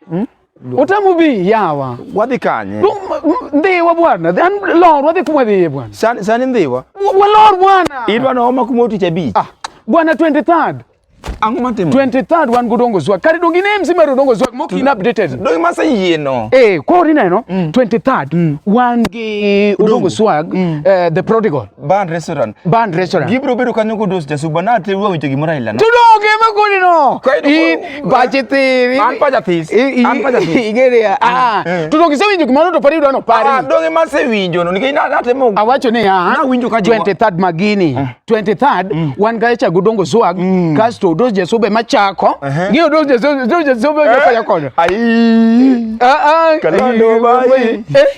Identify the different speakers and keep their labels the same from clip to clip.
Speaker 1: Hmm? Utamu bi yawa. Wadhi kanye?
Speaker 2: Ndhiwa
Speaker 1: bwana. An lor wadhi kuma dhiye bwana. Sani sani ndhiwa.
Speaker 2: Walor bwana.
Speaker 1: Idwa no homa kuma utich
Speaker 2: abich. Ah. Bwana 23rd.
Speaker 1: Ang'o matimo?
Speaker 2: 23rd wan go dongo
Speaker 1: zwa. Kare dongi ne mzima ro dongo zwa mok in updated. Dongi masa yie no.
Speaker 2: Eh, kwa ori neno 23rd
Speaker 1: mm. mm. wan gi dongo swag mm. eh, the prodigal. Band restaurant.
Speaker 2: Band restaurant. Gibiro bedo kanyo kodos jasuba na te wuowi to gimoro aila. Tudo ke ma kuni no.
Speaker 1: In pache ti. An pacha this.
Speaker 2: An pacha this. Igere
Speaker 1: ya. Ah. Tudo ke sewinjo gimoro to pari dono pari. Ah, donge ma sewinjo
Speaker 2: no nikech na te mo. Awacho ni ya. Na winjo
Speaker 1: ka 23rd
Speaker 2: magini.
Speaker 1: 23rd wan ga cha gudongo zuag kasto dos jasuba ma chako. Ngiyo dos jasuba dos jasuba ma pacha kono. Ai. Ah ah.
Speaker 2: Kalando bai. Eh.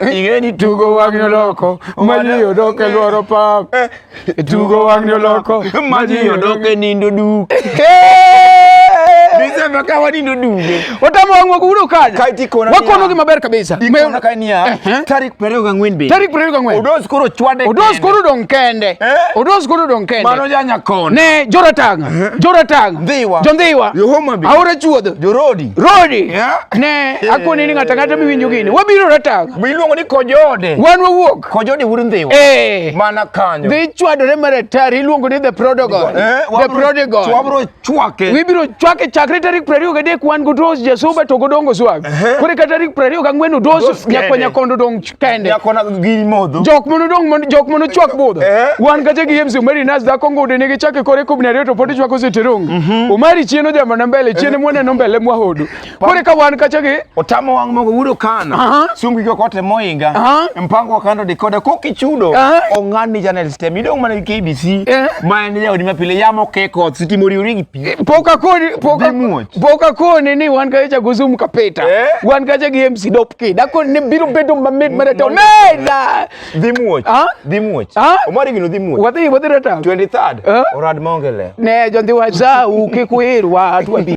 Speaker 1: Ingeni tugo wang' noloko maji odok e lworo pap tugo wang' noloko maji odok e
Speaker 2: nindo duk Nisema kawa nindo duge. Watamu wangu wakuudo
Speaker 1: kaja. Kaiti kona. Wakono gi
Speaker 2: maber kabisa.
Speaker 1: Ikona kai niya. Eh,
Speaker 2: eh. Tarik perego ga ngwen be. Tarik perego ga ngwen. Odos koro
Speaker 1: chwade.
Speaker 2: Odos koro don
Speaker 1: kende. Eh? Odos koro don kende. Mano janya kona. Ne
Speaker 2: joratanga.
Speaker 1: Eh? Joratanga. Dhiwa. Jondhiwa.
Speaker 2: Yohoma bi.
Speaker 1: Aora
Speaker 2: chuodho. Jorodi.
Speaker 1: Rodi. Yeah.
Speaker 2: Ne,
Speaker 1: akoni ni ngata ngata miwinjo gini. Wabiro ratang. Miluongo ni kojode.
Speaker 2: Wan wawuok. Kojode
Speaker 1: wuod ndhiwa. Eh.
Speaker 2: Mana kanyo. Dhi chwadore
Speaker 1: maratar iluongo ni the prodigal. Eh, the prodigal. Wabiro chwake.
Speaker 2: Wibiro chwake chakre
Speaker 1: tarik 23 wan godos jasuba to godongo swag. Eh. Kore ka tarik 24 odos nyakonya kondo dong kende nyako na giri modho
Speaker 2: jok mono dong mono jok
Speaker 1: mono chwak budho eh. wan kacha gi MC Umari Nas dhako ngude nigi chake kore kubni ariyo to podi chwako sitirongi mm -hmm. Umari chieno jambo na mbele chiene eh. mwene no mbele mwa hodu kore ka wan kacha gi otamo wang mogo wudo
Speaker 2: kana uh -huh. sungi ko kote moinga uh -huh. mpango wakando dikode koki chudo uh -huh. ongani channel stem idong mana KBC uh eh. -huh. maende jaodi mapile yamo keko sitimori urigi Eh, poka koni poka poka koni ni wan ka cha guzum ka peta eh? wan ka cha gi MC dop ki da kon ne biro bedo ma med mara to ne da dimuoch ha dimuoch ha omari gino dimuoch wadi wadi rata 23rd eh? orad
Speaker 1: maongele ne jondi
Speaker 2: wa za
Speaker 1: u ke
Speaker 2: kuirwa
Speaker 1: tu abi